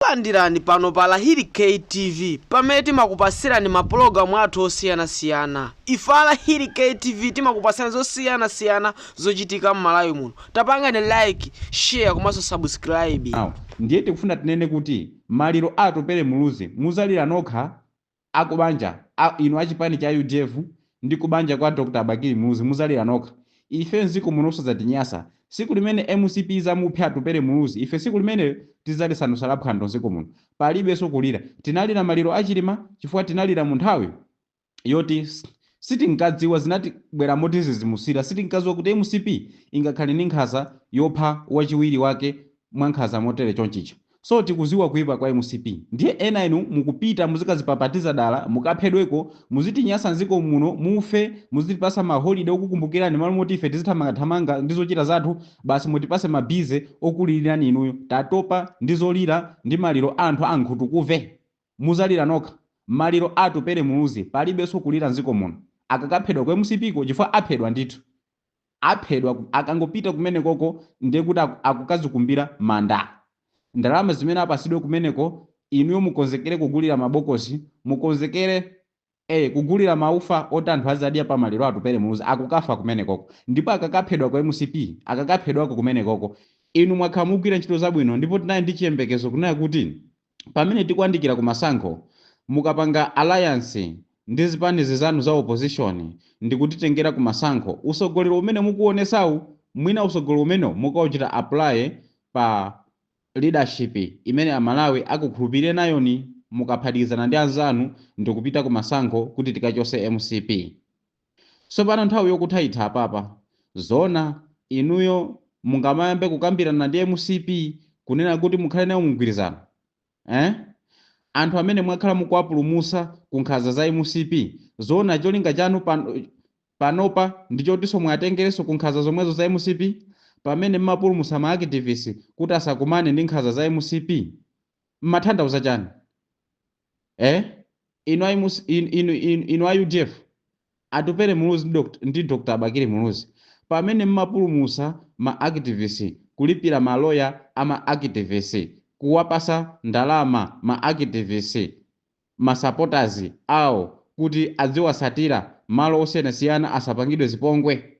Takulandirani pano pa Lahiri K TV pamene timakupasirani ma pulogalamu athu osiyana siyana. Ife a Lahiri K TV timakupasirani zosiyana siyana zochitika m'Malawi muno. Tapangani like, share komanso subscribe. Aw ndiye tikufuna tinene kuti maliro a Atupele Muluzi muzalira nokha a kubanja, inu a chipani cha udf ndi kubanja kwa Dr Bakili Muluzi muzalira nokha ife mziko munoso zatinyasa siku limene mcp izamuphe Atupele Muluzi ife siku limenero tizalisandusa la phwando mziko muno palibeso kulira tinalira maliro a Chilima chifukwa tinalira munthawi yoti sitinkadziwa zinatibwera motizizimusira sitinkaziwa kuti mcp ingakhale ndi nkhaza yopha wachiwiri wake mwankhaza motere chonchija So tikuziwa kuipa kwa mcp ndiye ena inu mukupita mukazipapatiza dala mukaphedweko muzitinyasa nziko muno mufe muzitipasa ma holiday okukumbukirani malo moti ife tizithamanga thamanga ndi zochita zathu basi mutipase ma busy okulirirani inuyo tatopa ndi zolira ndi maliro a anthu a nkhutukumve muzalira nokha maliro a atupele muluzi palibeso kulira nziko muno akakaphedwa ku mcp ko chifukwa aphedwa ndithu aphedwa akangopita kumenekoko ndiye kuti akukazikumbira manda ndalama zimene apasidwe kumeneko inuyo mukonzekere kugulira mabokosi mukonzekere ee kugulira maufa oti anthu azadya pa maliro a Atupele Muluzi akukafa kumenekoko ndipo akakaphedwa ku mcp akakaphedwako kumenekoko inu mwakhala mukugwira ntchito zabwino ndipo tinali ndi chiyembekezo kunena kuti pamene tikuandikira ku masankho mukapanga alliance ndi zipani zinzanu za opposition ndikutitengera ku masankho usogoleri umene mukuonesau mwina usogoleri umeneo mukauchita apply pa leadership imene amalawi akukhulupirireni nayo mukaphatikizana ndi anzanu ndikupita ku masankho kuti tikachose mcp Tsopano nthawi yokutha itha apapa. Zoona inuyo mungamayambe kukambirana ndi mcp kunena kuti mukhale nayo mumgwirizano? Eeh? Anthu amene mwakhala mukuwapulumusa ku nkhanza za mcp zoona cholinga chanu panopa ndichotiso muwatengereso ku nkhanza zomwezo za mcp pamene mmapulumusa ma activist kuti asakumane ndi nkhanza za mcp? Mmathandauza chani? eh inu ayi mus- inu inu inu, inu a udf Atupele muluzi ndi Dr. ndi dr bakili muluzi pamene mmapulumusa ma activist kulipira maloya ama activist kuwapasa ndalama ma activist masupporters awo kuti adziwasatira malo osiyanasiyana asapangidwe zipongwe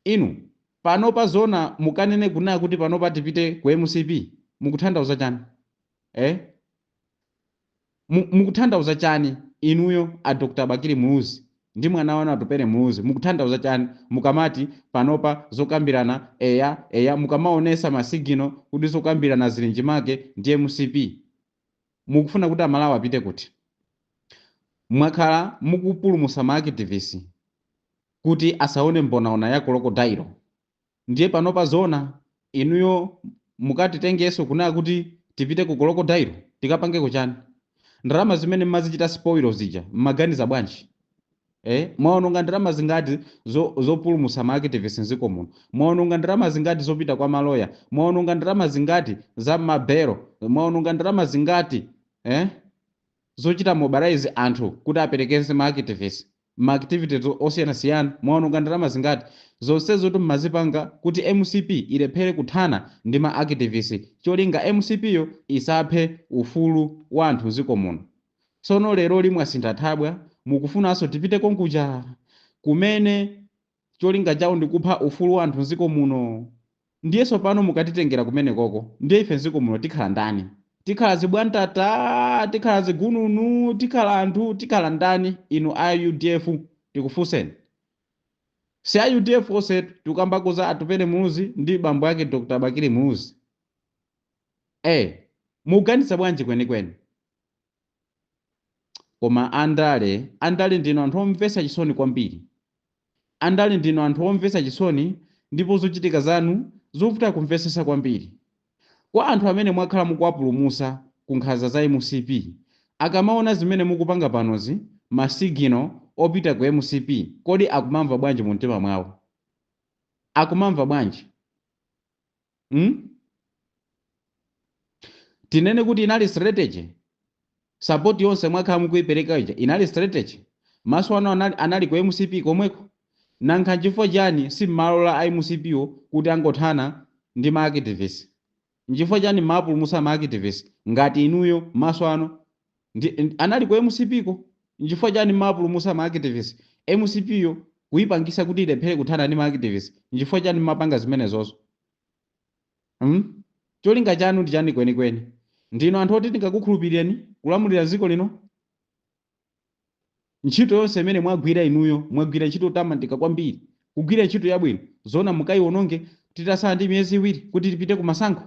inu panopa zoona mukanene kunena kuti panopa tipite ku mcp mukuthandauza chani eh Mu, mukutanthauza chani inuyo a Dr Bakili Muluzi ndi mwana wanu Atupele Muluzi mukutanthauza chani mukamati panopa zokambirana eya eya mukamaonesa ma signal kuti zokambirana zili mchimake ndi mcp mukufuna kuti amalawi apite kuti? Mwakhala mukupulumusa ma activist kuti asaone mbonaona ya kolokodayilo. Ndiye panopa zoona inuyo mukatitengeso kunena kuti tipite ku kolokodayilo tikapangeko chani? Ndalama zimene mmazichita sipoilo zija mmaganiza bwanji? ee mwaononga ndalama zingati zopulumusa ma activists nziko muno? Mwaononga ndalama zingati zopita kwa ma lawyer? Mwaononga ndalama zingati za ma bail? Mwaononga ndalama zingati ee zochita mobilize anthu kuti aperekeze ma activists? ma activities osiyanasiyana mwaononga ndalama zingati zonsezotu mmazipanga kuti mcp ilephere kuthana ndi ma activist cholinga mcp yo isaphe ufulu wa anthu mziko muno tsono leroli mwasintha thabwa mukufunaso tipite konkuja kumene Cholinga chawo ndi kupha ufulu wa anthu mziko muno. Ndiye tsopano mukatitengera kumenekoko ndiye ife mziko muno tikhala ndani? Tikhala zibwantata? Tikhala zigununu? Tikhala anthu? Tikhala ndani inu a udf tikufunseni? Si a udf onsetu tikukamba za Atupele Muluzi ndi bambo ake Dr Bakili Muluzi. Eee! Mukuganiza bwanji kwenikweni? Koma andale, andale ndinu anthu omvetsa chisoni kwambiri. Andale ndinu anthu omvetsa chisoni ndipo zochitika zanu zovuta kumvetsetsa kwambiri. Kwa anthu amene mwakhala mukuwapulumutsa ku nkhanza za mcp, akamaona zimene mukupanga panozi, ma signal opita ku mcp, kodi akumamva bwanji mu mtima mwawo? Akumamva bwanji? mm? tinene kuti inali strategy sapoti yonse mwakhala mukuipereka ija inali strategy maso anu anali ku mcp komweko nankha nchifukwa chani simmalola a mcpwo kuti angothana ndi maakitivisti nchifukwa chani mmapulumusa maakitivisti ngati inuyo maso anu Ndi, ndi anali ku mcp ko? Nchifukwa chani mmawapulumutsa ma activist? Mcp yo kuipangisa kuti ilephere kuthana ndi ma activist? Nchifukwa chani mmapanga zimenezozo? Hmm? Cholinga chanu ndi chani kwenikweni? Ndinu anthu oti tingakukhulupilireni kulamulira dziko lino? Ntchito yonse imene mwagwira inuyo, mwagwira ntchito yotamandika kwambiri. Kugwira ntchito yabwino. Zoona mukaiwononge titatsala ndi miyezi iwiri kuti tipite kumasankho?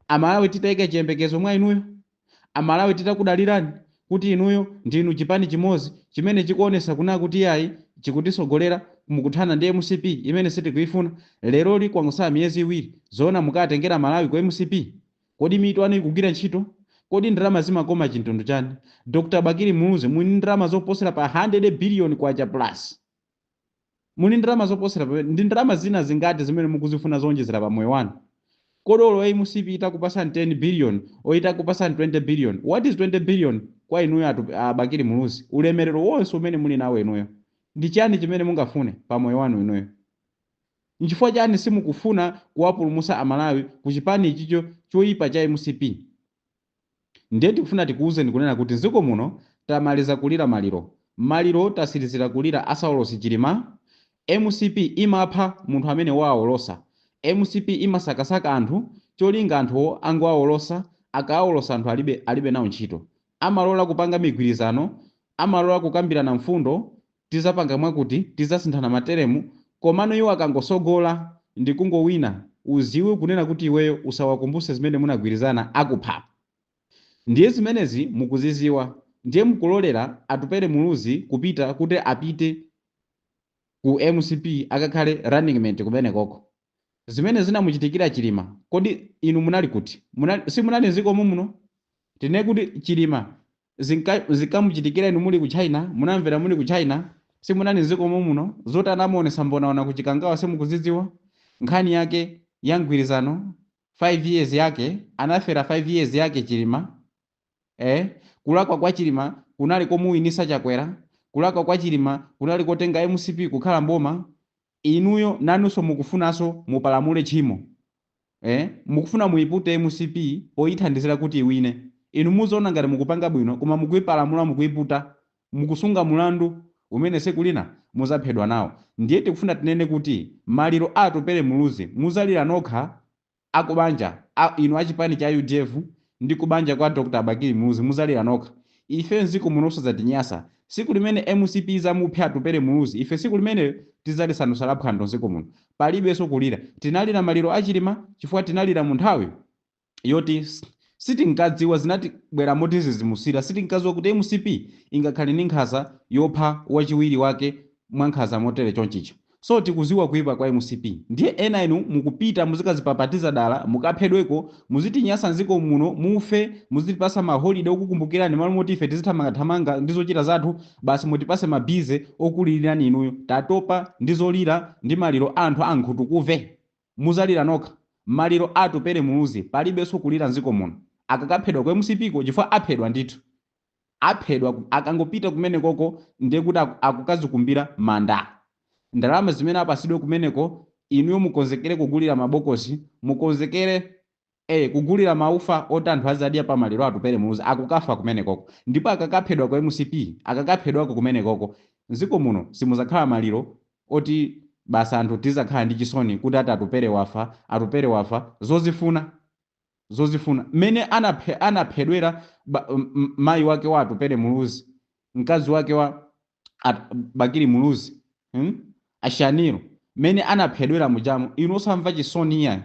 Amalawi titaika chiyembekezo mwa inuyo? Amalawi titakudalirani kuti inuyo ndinu chipani chimodzi chimene chikuonetsa kunena kuti iyayi chikutitsogolera mukuthana ndi mcp imene sitikuifuna? Leroli kwangotsala miyezi iwiri. Zoona mukawatengere Amalawi ku mcp? Kodi mitu yanu ikugwira ntchito? Kodi ndalama zimakoma chintundu chani? Dr Bakili Muluzi muli ndi ndalama zoposera pa 100 billion kwacha plus. Muli ndi ndalama zoposera pamene. Ndi ndalama zina zingati zimene mukuzifuna zoonjezera pa moyo wanu? Kodi olo a mcp itakupasani 10 billion or itakupasani 20 billion, what is 20 billion kwa inuyo a Tup, a Bakili Muluzi? Ulemelero wonse umene muli nawo inuyo ndi chani chimene mungafune pa moyo wanu inuyo? Nchifukwa chani simukufuna kuwapulumusa amalawi ku chipani ichicho choipa cha mcp ndiye tikufuna tikuuzeni kunena kuti nziko muno tamaliza kulira maliro maliro tasilizila kulira a Saulosi Chilima mcp imapha munthu amene waawolosa mcp imasakasaka anthu cholinga anthuwo angoawolosa akaawolosa anthu alibe nao ntchito amalola kupanga migwirizano amalola kukambirana mfundo Tizapanga mwakuti tizasinthana matelemu komano iwo akangosogola ndikungowina uziwe kunena kuti iweyo usawakumbuse zimene munagwirizana akupha ndiye zimenezi mukuziziwa ndiye mukulolera Atupele Muluzi kupita kuti apite Ku mcp akakhale running mate kumenekoko zimene zinamuchitikira Chilima kodi inu munali kuti simunali nziko momuno tinene kuti Chilima Zinka- zinkamuchitikira inu muli ku china munamvera muli ku china simunali mziko momuno zoti anamuonesa mbonaona ku chikangawa simukuziziwa nkhani yake ya mgwirizano 5 years yake anafera 5 years yake chilima eh kulakwa kwa chilima kunali komuwinisa chakwera kulakwa kwa chilima kunali kotenga mcp kukhala mboma Inuyo nanuso mukufunaso mupalamule tchimo ee mukufuna muipute mcp poithandizila kuti iwine inu muzaona ngati mukupanga bwino koma mukuipalamula mukuiputa mukusunga mulandu umene siku lina muzaphedwa nawo ndiye tikufuna tinene kuti maliro a atupele muluzi muzalira nokha a kubanja, inu a chipani cha udf ndi kubanja kwa Dr Bakili Muluzi muzalira nokha. Ife mziko muno osazatinyasa. Siku limene mcp izamuphe Atupele Muluzi ife siku limenelo tizalisandusa la phwando mziko muno. Palibeso kulira. Tinalira maliro a Chilima chifukwa tinalira mu nthawi yoti sitinkadziwa zinatibwera motizizimusira sitinkaziwa kuti mcp ingakhale ndi nkhaza yopha wachiwiri wake mwankhaza motere chonchicha. So tikuziwa kuipa kwa mcp ndiye ena inu mukupita muzikazipapatiza dala mukaphedweko muzitinyasa nziko muno mufe muzitipasa ma holiday okukumbukilani m'malo moti ife tizithamanga thamanga ndi zochita zathu basi mutipase ma busy okulililani inuyo tatopa ndi zolira ndi maliro a anthu a nkhutukuve muzalira nokha maliro a Atupele Muluzi palibeso kulira nziko muno akakaphedwa ku mcp ko chifukwa aphedwa ndithu. aphedwa akangopita kumenekoko ndiye kuti akukazikumbira manda ndalama zimene apasidwe kumeneko inuyo mukonzekere kugulira mabokosi mukonzekere ee kugulira maufa oti anthu azadya pa maliro atupere muluzi akukafa kumenekoko ndipo akakaphedwa kwa mcp akakaphedwako kumenekoko mziko muno simuzakhala maliro oti basi anthu tizakhala ndi chisoni kuti ati atupere wafa atupere wafa zozifuna zozifuna mmene anaphe, anaphedwera ba, m, m, mayi wake wa Atupele Muluzi mkazi wake wa At, Bakili Muluzi hmm? A Shanil mmene anaphedwera mujamu inu osamva chisoni iyayi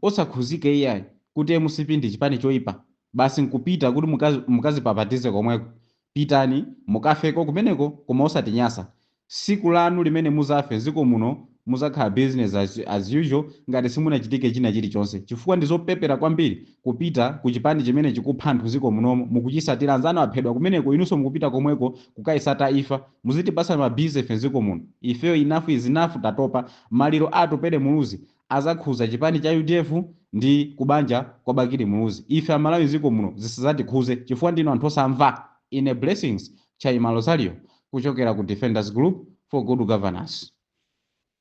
osakhuzika iyayi kuti mcp ndi chipani choipa basi nkupita kuti mukazi, mukazipapatize komweko Pitani mukafeko kumeneko koma osatinyasa siku lanu limene muzafe nziko muno muzakhala business as as usual ngati simunachitike china chilichonse chifukwa ndizopepera kwambiri kupita kuchipani chimene chikupha anthu nziko munomo mukuchisatila anzanu aphedwa kumeneko inunso mukupita komweko kukaisata ifa muzitipasa ma busy ife nziko muno ifeyo enough is enough tatopa maliro a atupele muluzi azakhuza chipani cha udf ndi kubanja kwa bakili muluzi ife amalawi ziko muno zisazatikhuze chifukwa ndinu anthu osamva ine blessings chaima rosario kuchokera ku defenders group for good governance